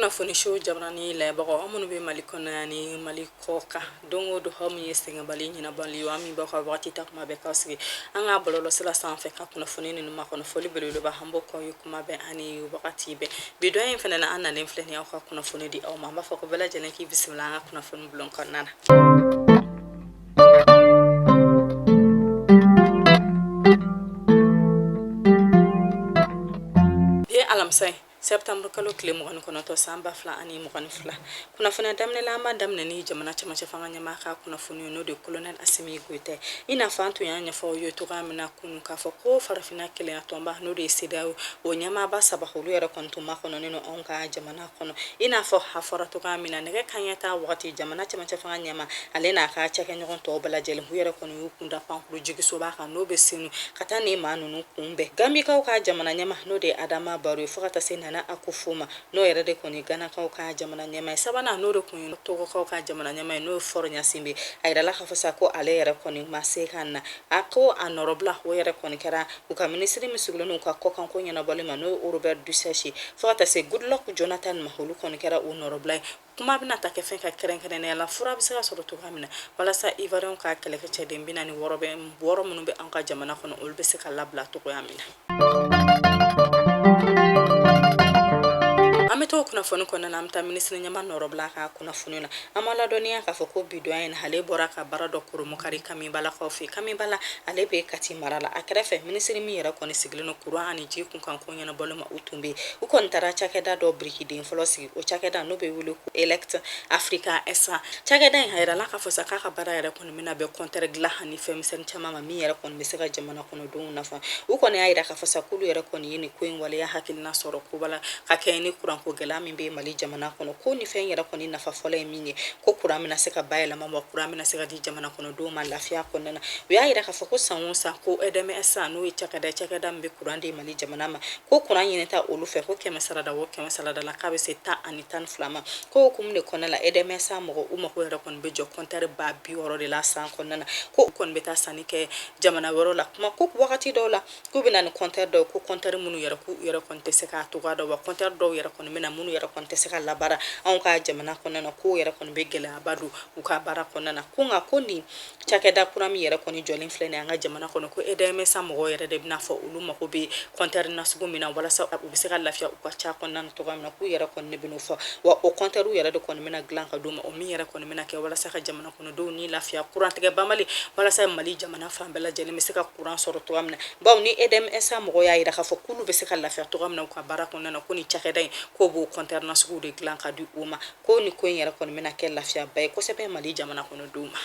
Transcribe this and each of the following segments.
kunnafoniso jabarani lajɛbagaw aw minnu bɛ mali kɔnɔ ani mali kɔ kan don o don aw min ye sɛgɛnbali ɲinabali ye aw min b'aw ka wagati ta kuma bɛɛ k'aw sigi an ka bɔlɔlɔsira sanfɛ ka kunnafoni ninnu makɔnɔ foli belebeleba an b'o k'aw ye kuma bɛɛ ani wagati bɛɛ bi don in fana na an nalen filɛ nin aw ka kunnafoni di aw ma an b'a fɔ ko bɛɛ lajɛlen k'i bisimila an ka kunnafoni bulon kɔnɔna na alamisa ye sɛbtanburu kalo tile mugan ni kɔnɔntɔn san ba fila ani mugan ni fila kunnafoni daminɛ la an b'a daminɛ ni jamana cɛmancɛ fanga ɲɛmaa ka kunnafoni n'o de kolonɛl asimi goyita i n'a fɔ an tun y'a ɲɛfɔ aw ye cogoya min na kunun k'a fɔ ko farafina kelenya tɔnba n'o de ye sedeyawo o ɲɛmaaba saba olu yɛrɛ kɔni tun makɔnɔnen don anw ka jamana jamana kɔnɔ i n'a fɔ a fɔra cogoya min na nɛgɛ kanɲɛ tan wagati jamana cɛmancɛ fanga ɲɛmaa ale n'a ka cakɛɲɔgɔn tɔw bɛɛ lajɛlen u yɛrɛ kɔni y'u kunda pankurun jiginsoba kan n'o bɛ senu ka taa nin maa ninnu kunbɛn gambikaw ka jamana ɲɛmaa n'o de ye adama baro ye fo ka taa se nana akufo ma n'o yɛrɛ de kɔni ganakaw ka jamana ɲɛmaa ye sabanan n'o de kun ye togokaw ka jamana ɲɛmaa ye n'o ye fɔr ɲasinbɛ a jirala k'a fɔ sa ko ale yɛrɛ kɔni ma se ka na a ko a nɔrɔbila o yɛrɛ kɔni kɛra U ka minisiri min sigilen don u ka kɔkanko ɲɛnabɔli ma n'o ye Robert Dussey fo ka taa se Goodluck Jonathan ma olu kɔni kɛra u nɔrɔbila ye kuma bɛna taa kɛ fɛn kan kɛrɛnkɛrɛnnenya la fura bɛ se ka sɔrɔ cogoya min na walasa Ivoiriyɛnw ka kɛlɛkɛcɛden bi naani wɔɔrɔ bɛ wɔɔrɔ minnu bɛ anw ka jamana kɔnɔ olu bɛ se ka labila cogoya min na. An bɛ to kunnafoni kɔnɔna na an bɛ taa minisiri ɲɛmaa nɔrɔbila ka kunnafoni na an b'aw ladɔnniya k'a fɔ ko bi don in ale bɔra ka baara dɔ kurunbonkari kamibalakaw fɛ kamibala ale bɛ kati mara la a kɛrɛfɛ minisiri min yɛrɛ kɔni sigilen don kuran ani ji kunkanko ɲɛnabɔli ma o tun bɛ yen u kɔni taara cakɛda dɔ birikiden fɔlɔ sigi o cakɛda n'o bɛ wele ko elect africa sa cakɛda in a jirala k'a fɔ sa k'a ka baara yɛrɛ kɔni Bɛna bɛn kɔntɛri dilan ani fɛnmisɛn caman ma min yɛrɛ kɔni bɛ se ka jamana kɔnɔdenw nafa u kɔni y'a jira k'a fɔ sa k'olu yɛrɛ kɔni ye nin ko in waleya hakilina sɔrɔ koba la ka kɛɲɛ ni kuranko gɛlɛya min bɛ mali jamana kɔnɔ ko nin fɛn yɛrɛ kɔni nafa fɔlɔ ye min ye ko kuran bɛna se ka bayɛlɛma wa kuran bɛna se ka di jamana kɔnɔdenw ma lafiya kɔnɔna na u y'a jira k'a fɔ ko san o san ko edm sa n'o cakɛda bɛ kuran di mali jamana ma ko kuran ɲinita olu fɛ ko kɛmɛ sarada o kɛmɛ sarada la k'a bɛ se tan ani tan ni fila ma k'o hukumu de kɔnɔna la edm sa mɔgɔw mako yɛrɛ kɔni kɔni bɛ jɔ kɔntɛri ba bi wɔɔrɔ de la san kɔnɔna na ko u kɔni bɛ taa sanni kɛ jamana wɛrɛ la kuma ko wagati dɔw la k'u bɛ na ni kɔntɛri dɔw ko kɔntɛri minnu yɛrɛ k'u yɛrɛ kɔni tɛ se k'a cogoya dɔn wa kɔntɛri dɔw yɛrɛ kɔni bɛ na minnu yɛrɛ kɔni tɛ se ka labaara anw ka jamana kɔnɔna na k'o yɛrɛ kɔni bɛ gɛlɛyaba don u ka baara kɔnɔna na ko nka ko nin cakɛda kura min yɛrɛ kɔni jɔlen filɛ nin an ka jamana kɔnɔ ko edm sa mɔgɔw yɛrɛ de bɛna a fɔ olu mago bɛ kɔntɛri nasugu min na walasa u bɛ se ka lafiya u ka ca kɔnɔna na cogoya min na k'u yɛrɛ kɔni de bɛna fɔ wa o kɔnter yɛrɛ de kɔni bɛna dilan ka di u ma o min yɛrɛ kɔni bɛna kɛ walasa ka jamana kɔnɔdenw ni lafiya kurantigɛ banbali walasa mali jamana fan bɛɛ lajɛlen bɛ se ka kuran sɔrɔ cogoya min na bawo ni edmsa mɔgɔw y'a yira k'a fɔ k'olu bɛ se ka lafiya cogoya min na u ka baara kɔnɔna na ko ni cakɛda in k'o b'o kɔnter nasugu de dilan ka di u ma ko ni ko in yɛrɛ kɔni bɛna kɛ lafiyaba ye kosɛbɛ mali jamana kɔnɔdenw ma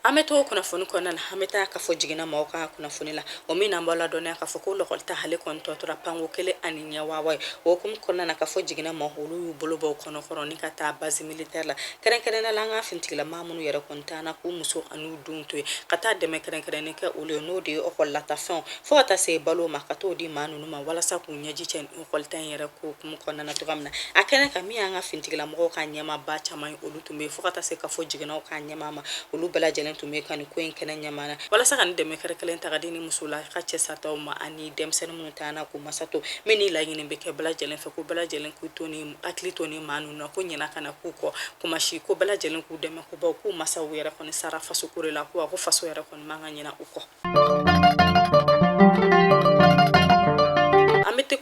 An bɛ to kunnafoni kɔnɔna na an bɛ taa kafo jiginɛ maaw ka kunnafoni la o min na an b'aw ladɔnniya k'a fɔ ko lɔkɔli ta ale kɔni tɔ tora pan ko kelen ani ɲɛ wawa ye o hukumu kɔnɔna na kafo jiginɛ maaw olu y'u bolo bɔ u kɔnɔ kɔrɔ ni ka taa base militaire la kɛrɛnkɛrɛnnenya la an ka finitigila maa minnu yɛrɛ kɔni taara k'u muso ani u denw to yen ka taa dɛmɛ kɛrɛnkɛrɛnnen kɛ olu ye n'o de ye lɔkɔlilataafɛnw fo ka taa se balo ma ka taa o di maa ninnu ma walasa k'u ɲɛji cɛ kɔlita in yɛrɛ ko hukumu kɔnɔna na cogoya min na a kɛnɛ kan min y'an ka finitigilamɔgɔw ka ɲɛmaaba caman ye olu tun bɛ fo ka taa se kafo jiginɛw ka ɲɛmaa ma olu bɛɛ lajɛlen tun bɛ ka nin ko in kɛnɛ ɲɛmaa na walasa ka nin dɛmɛ kɛrɛnkɛrɛnnen ta ka di nin musolaka cɛ sataw ma ani denmisɛnnin minnu taara k'u masa to min ni laɲini bɛ kɛ bɛɛ lajɛlen fɛ ko bɛɛ lajɛlen k'u to ni hakili to ni maa ninnu na ko ɲina kana k'u kɔ kuma si ko bɛɛ lajɛlen k'u dɛmɛ ko bawo k'u masaw yɛrɛ kɔni sara faso ko de la ko wa ko faso yɛrɛ kɔni man ka ɲina u kɔ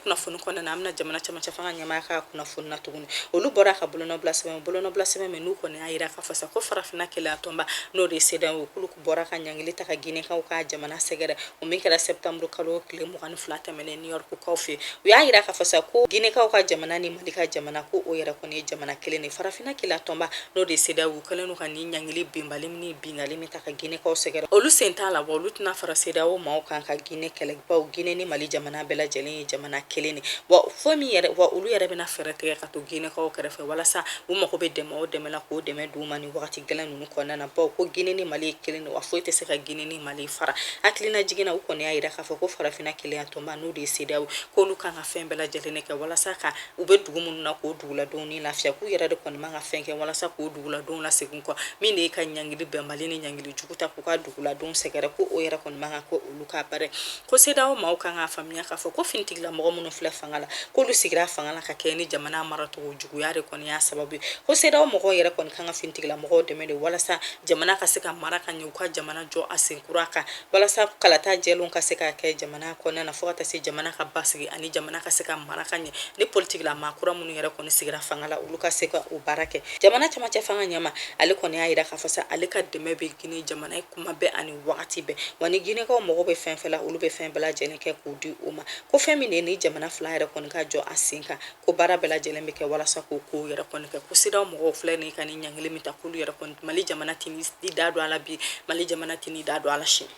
kunnafoni kɔnɔna na an bɛna jamana cɛmancɛ fanga ɲɛmaa ka kunnafoni na tuguni olu bɔra ka bolonɔbila sɛbɛn bolonɔbila sɛbɛn min n'u kɔni y'a yira k'a fɔ sa ko farafinna kelenya tɔnba n'o de ye cedeao ye k'olu bɔra ka ɲangili ta ka ginekaw ka jamana sɛgɛrɛ o min kɛra sɛptanburu kalo tile mugan ni fila tɛmɛnen new york kaw fɛ u y'a yira k'a fɔ sa ko ginekaw ka jamana ni mali ka jamana ko o yɛrɛ kɔni ye jamana kelen de farafinna kelenya tɔnba n'o de ye cedeao ye u kɛlen don ka nin ɲangili bɛnbali min bi Ɲangili min ta ka ginekaw sɛgɛrɛ olu sen t'a la wa olu tɛna fara cedeao maaw kan ka gine kɛlɛ bawo gine ni mali jamana bɛɛ lajɛlen ye jamana kelen de wa fɔ min yɛrɛ wa olu yɛrɛ bɛna fɛɛrɛ tigɛ ka to ginekaw kɛrɛfɛ walasa u mago bɛ dɛmɛ o dɛmɛ la k'o dɛmɛ d'u ma ni waati gɛlɛn ninnu kɔnɔna na bawo ko gine ni mali kelen de wa foyi tɛ se ka gine ni mali fara hakililajigin na u kɔni y'a yira k'a fɔ ko farafinna kelenya tɔnba n'o de ye cedeao k'olu kan ka fɛn bɛɛ lajɛlen de kɛ walasa ka u bɛ dugu minnu na k'o duguladenw ni lafiya k'u yɛrɛ de kɔni man ka fɛn kɛ walasa k'o duguladenw lasegin kɔ min de ye ka ɲangili bɛnbali ni ɲangili jugu ta k'u ka duguladenw sɛgɛrɛ ko o yɛrɛ kɔni man kan ko olu ka baara ko cedeao maaw kan k'a faamuya k'a fɔ ko finitigila mɔgɔ minnu filɛ fanga la k'olu sigira fanga la ka kɛ ni jamana maracogo juguya de kɔni y'a sababu ye ko cedeao mɔgɔw yɛrɛ kɔni kan ka finitigila mɔgɔw dɛmɛ de walasa jamana ka se ka mara ka ɲɛ u ka jamana jɔ a sen kura kan walasa kalata jɛlenw ka se ka kɛ jamana kɔnɔna na fo ka taa se jamana ka basigi ani jamana ka se ka mara ka ɲɛ ni politikila maa kura minnu yɛrɛ kɔni sigira fanga la olu ka se ka o baara kɛ jamana cɛmancɛ fanga ɲɛmaa ale kɔni y'a yira k'a fɔ sa ale ka dɛmɛ bɛ gine jamana ye kuma bɛɛ ani wagati bɛɛ wa ni ginekaw mago bɛ fɛn fɛn la olu bɛ fɛn bɛɛ lajɛlen kɛ k'o di u ma ko fɛn min de ye nin jamana fila yɛrɛ kɔni ka jɔ a sen kan ko baara bɛɛ lajɛlen bɛ kɛ walasa k'o kow yɛrɛ kɔni kɛ ko cedeao mɔgɔw filɛ nin ka nin ɲangili min ta k'olu yɛrɛ kɔni mali jamana tɛn'i da don a la bi mali jamana tɛn'i da don a la sini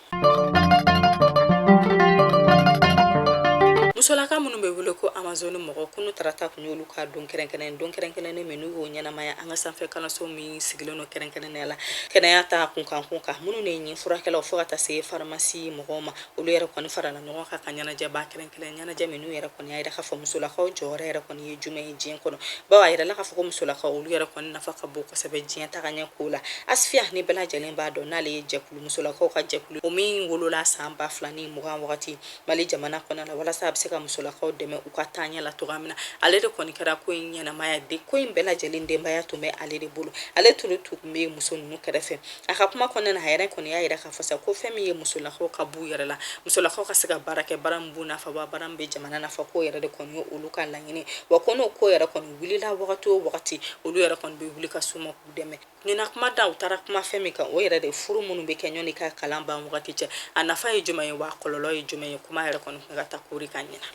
musolaka minnu bɛ wele ko amazon mɔgɔ kunu tarata tun y'olu ka don kɛrɛnkɛrɛn don kɛrɛnkɛrɛnnen min n'u y'o ɲɛnamaya an ka sanfɛ kalanso min sigilen don kɛrɛnkɛrɛnnenya la kɛnɛya ta kunkan kun kan minnu de ye ɲin furakɛlaw fo ka taa se faramasi mɔgɔw ma olu yɛrɛ kɔni farala ɲɔgɔn kan ka ɲɛnajɛba kɛrɛnkɛrɛn ɲɛnajɛ min n'u yɛrɛ kɔni y'a yira k'a fɔ musolakaw jɔyɔrɔ yɛrɛ kɔni ye jumɛn ye diɲɛ kɔnɔ bawo a yirala k'a fɔ ko musolakaw olu yɛrɛ kɔni nafa ka bon kosɛbɛ diɲɛ tagaɲɛ ko la asifiya ni bɛɛ lajɛlen b'a dɔn n'ale ye jɛkulu musolakaw ka jɛkulu o min wolola san ba fila ni mugan wagati mali jamana kɔnɔ la walasa a bɛ se ka musolakaw dɛmɛ u ka taaɲɛ la cogoya min na ale de kɔni kɛra ko in ɲɛnamaya de ko in bɛɛ lajɛlen denbaya tun bɛ ale de bolo ale tun bɛ muso ninnu kɛrɛfɛ a ka kuma kɔnɔna na a yɛrɛ kɔni y'a yira k'a fɔ sa ko fɛn min ye musolakaw ka b'u yɛrɛ la musolakaw ka se ka baara kɛ baara min b'u nafa wa baara min bɛ jamana nafa k'o yɛrɛ de kɔni ye olu ka laɲini wa ko n'o ko yɛrɛ kɔni wulila wagati o wagati olu yɛrɛ kɔni bɛ wuli ka s'u ma k'u dɛmɛ ɲinan kuma dan u taara kuma fɛn min kan o yɛrɛ de furu minnu bɛ kɛ yanni ka kalan ban wagati cɛ a nafa ye jumɛn ye wa kɔlɔlɔ ye jumɛn ye kuma yɛrɛ kɔni ka taa kori ka ɲɛna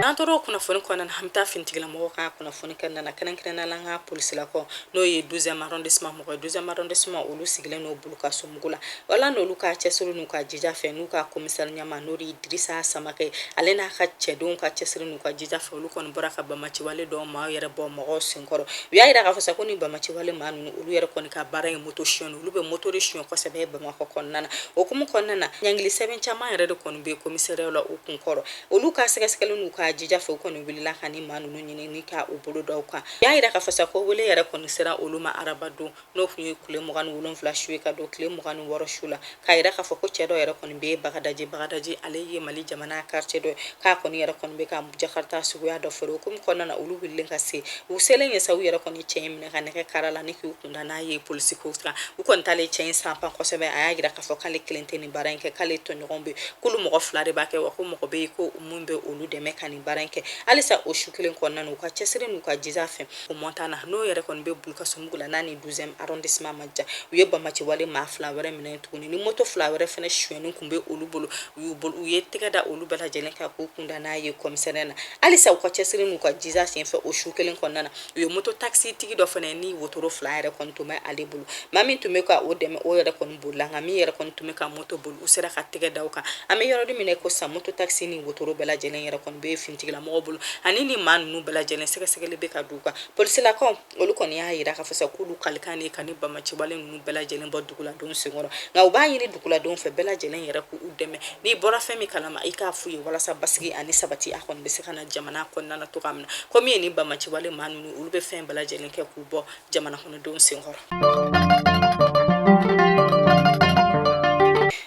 n'an tora o kunnafoni kɔnɔna na an bɛ taa finitigilamɔgɔw ka kunnafoni kɔnɔna na kɛrɛnkɛrɛnnenya la an ka polisilakaw n'o ye douzième arrondissement mɔgɔw ye douzième arrondissement olu sigilen don bulu kasumbugu la wala n'olu ka cɛsiri n'u ka jija fɛ n'u ka komisari ɲɛmaa n'o de ye dirisa samakɛ ale n'a ka cɛdenw ka cɛsiri n'u ka jija fɛ olu kɔni bɔra ka bamaciwale dɔw maa yɛrɛ bɔ mɔgɔw senkɔrɔ u y'a yira k'a fɔ sa ko ni bamaciwale maa ninnu olu yɛrɛ kɔni ka baara ye moto sonyɛ olu bɛ moto de sonyɛ kosɛbɛ bamakɔ kɔnɔna na o hukumu kɔnɔna na ɲangili sɛbɛn caman yɛrɛ de kɔni bɛ komisariyaw la u kun kɔrɔ olu ka sɛgɛsɛgɛli n'u ka jija fɛ u kɔni wulila ka ni maa ninnu ɲini ni ka u bolo da u kan u y'a yira k'a fɔ sa ko wele yɛrɛ kɔni sera olu ma araba don n'o tun ye tile mugan ni wolonwula su ye ka don tile mugan ni wɔɔrɔ su la k'a yira k'a fɔ ko cɛ dɔ yɛrɛ kɔni bɛ yen bagadaji bagadaji ale ye mali jamana quartier dɔ ye k'a kɔni yɛrɛ kɔni bɛ ka jakarita suguya dɔ feere o hukumu kɔnɔna na olu wulilen ka se u selen ye sa u yɛrɛ kɔni cɛ in minɛ ka nɛgɛ kara la ni k'u kunda n'a ye polisi ko kan u kɔni t'ale cɛ in sanpan kosɛbɛ a y'a yira k'a fɔ k'ale kelen tɛ nin baara in kɛ k'ale tɔɲɔgɔn bɛ k'olu mɔgɔ fila de b'a kɛ wa ko mɔgɔ bɛ yen ko min bɛ olu dɛmɛ ka nin baara in kɛ halisa o su kelen kɔnɔna na u ka cɛsiri n'u ka jija fɛ O mɔntana n'o yɛrɛ kɔni bɛ bulukasumbugu la la n'a ni douzième arrondissement man jan u ye bamaciwale maa fila wɛrɛ minɛ tuguni ni moto fila wɛrɛ fana sonyɛnen tun bɛ olu bolo u ye tɛgɛ da olu bɛɛ lajɛlen kan k'u kunda n'a ye komisariya na halisa u ka cɛsiri n'u ka jija senfɛ o su kelen kɔnɔna na u ye moto takisi tigi dɔ fana ye ni wotoro fila yɛrɛ kɔni tun bɛ ale bolo maa min tun bɛ ka o dɛmɛ o yɛrɛ kɔni bolila nka min yɛrɛ kɔni tun bɛ ka moto boli u sera ka tɛgɛ da o kan an bɛ yɔrɔ de min na ko sa moto takisi ni wotoro bɛɛ lajɛlen yɛrɛ kɔni bɛ finitigilamɔgɔw bolo ani ni maa ninnu bɛɛ lajɛlen sɛgɛsɛgɛli bɛ ka d'u kan polisilakaw olu kɔni y'a yira k'a fɔ sa k'olu kalikan de ka ni bamaciwale ninnu bɛɛ lajɛlen bɔ duguladenw senkɔrɔ nka u b'a ɲini duguladenw fɛ bɛɛ lajɛlen yɛrɛ k'u dɛmɛ n'i bɔra fɛn min kalama i k'a f'u ye walasa basigi ani sabati a kɔni bɛ se ka na jamana kɔnɔna na cogoya min na komi ye ni bamaciwale maa ninnu olu bɛ fɛn bɛɛ lajɛlen kɛ k'u bɔ jamana kɔnɔdenw senkɔrɔ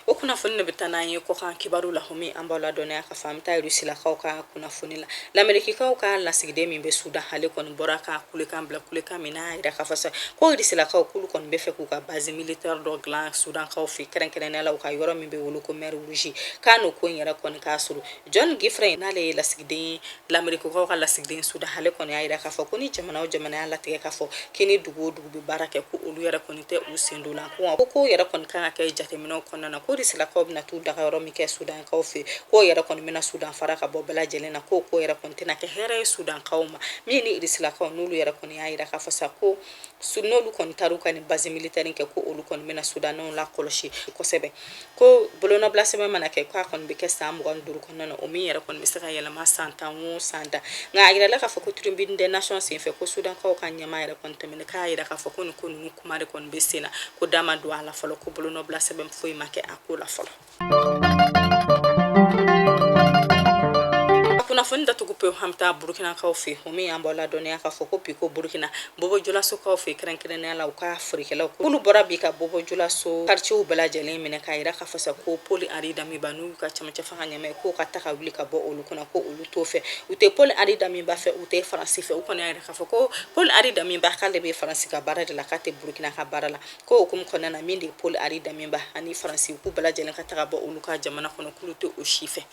o kunnafoni de bɛ taa n'an ye kɔkan kibaru la o min an b'aw ladɔnniya k'a fɔ an bɛ taa rusilakaw ka kunnafoni la lamerikikaw ka lasigiden min bɛ sudan ale kɔni bɔra ka kulekan bila kulekan min n'a yira k'a fɔ sa ko rusilakaw k'olu kɔni b'a fɛ k'u ka base militaire dɔ dilan sudankaw fɛ kɛrɛnkɛrɛnnenya la u ka yɔrɔ min bɛ wele ko mer rouge k'a n'o ko in yɛrɛ kɔni k'a sɔrɔ John Godfrey n'ale ye lasigiden ye lamerikikaw ka lasigiden sudan ale kɔni y'a jira k'a fɔ ko ni jamana o jamana y'a latigɛ k'a fɔ k'i ni dugu o dugu bɛ baara kɛ ko olu yɛrɛ kɔni tɛ u sen don la k'o yɛrɛ kɔni kan ka kɛ jateminɛw kɔnɔna na ko irisilakaw bɛna t'u dagayɔrɔ min kɛ sudankaw fɛ k'o yɛrɛ kɔni bɛna sudan fara ka bɔ bɛɛ lajɛlen na k'o ko yɛrɛ kɔni tɛna kɛ hɛrɛ ye sudankaw ma min ni irisilakaw n'olu yɛrɛ kɔni y'a jira k'a fɔ sa ko n'olu kɔni taar'u ka nin base militaire kɛ ko olu kɔni bɛna sudanɛw lakɔlɔsi kosɛbɛ ko bolonɔbila sɛbɛn mana kɛ k'a kɔni bɛ kɛ san mugan duuru kɔnɔna na o min yɛrɛ kɔni bɛ se ka yɛlɛma san tan o san tan nka a yirala k'a fɔ ko Tribune des Nations senfɛ ko sudankaw ka ɲɛmaa yɛrɛ kɔni tɛmɛna k'a yira k'a fɔ ko nin ko ninnu kuma de kɔni bɛ sen na ko da ma don a la fɔlɔ ko bolonɔbila sɛbɛn foyi ma kɛ a ko la fɔlɔ kunnafoni datugu pewu an bɛ taa burukinakaw fɛ o min y'an b'aw ladɔnniya k'a fɔ ko bi ko burukina Bɔbɔjulasokaw fɛ kɛrɛnkɛrɛnnenya la u ka forikɛlaw k'olu bɔra bi ka bɔbɔjulaso quartiers bɛɛ lajɛlen minɛ k'a jira k'a fɔ sa ko Paul Henri Damiba n'o y'u ka cɛmancɛ fanga ɲɛmaa ye k'o ka taa ka wuli ka bɔ olu kunna ko olu t'o fɛ, u tɛ Paul Henri Damiba fɛ, u tɛ Faransi fɛ, u kɔni y'a jira k'a fɔ ko Paul Henri Damiba k'ale bɛ Faransi ka baara de la, k'a tɛ Burukina ka baara la, k'o hukumu kɔnɔna na min de ye Paul Henri Damiba ani Faransi k'u bɛɛ lajɛlen ka taa ka bɔ olu ka jamana kɔnɔ k'olu tɛ o si fɛ.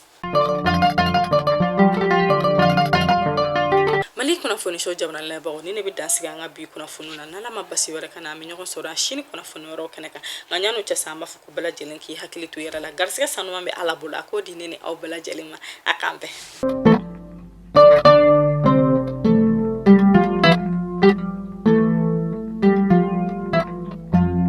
mali kunnafoni so jamana lamɛnbagaw ni ne bɛ dansigi an ka bi kunnafoni na n'ala ma basi wɛrɛ k'an na an bɛ ɲɔgɔn sɔrɔ a sini kunnafoni wɛrɛw kɛnɛ kan nka ɲan'o cɛ sa an b'a fɔ ko bɛɛ lajɛlen k'i hakili to i yɛrɛ la garisigɛ sanuman bɛ ala bolo a k'o di ne ni aw bɛɛ lajɛlen ma a k'an bɛn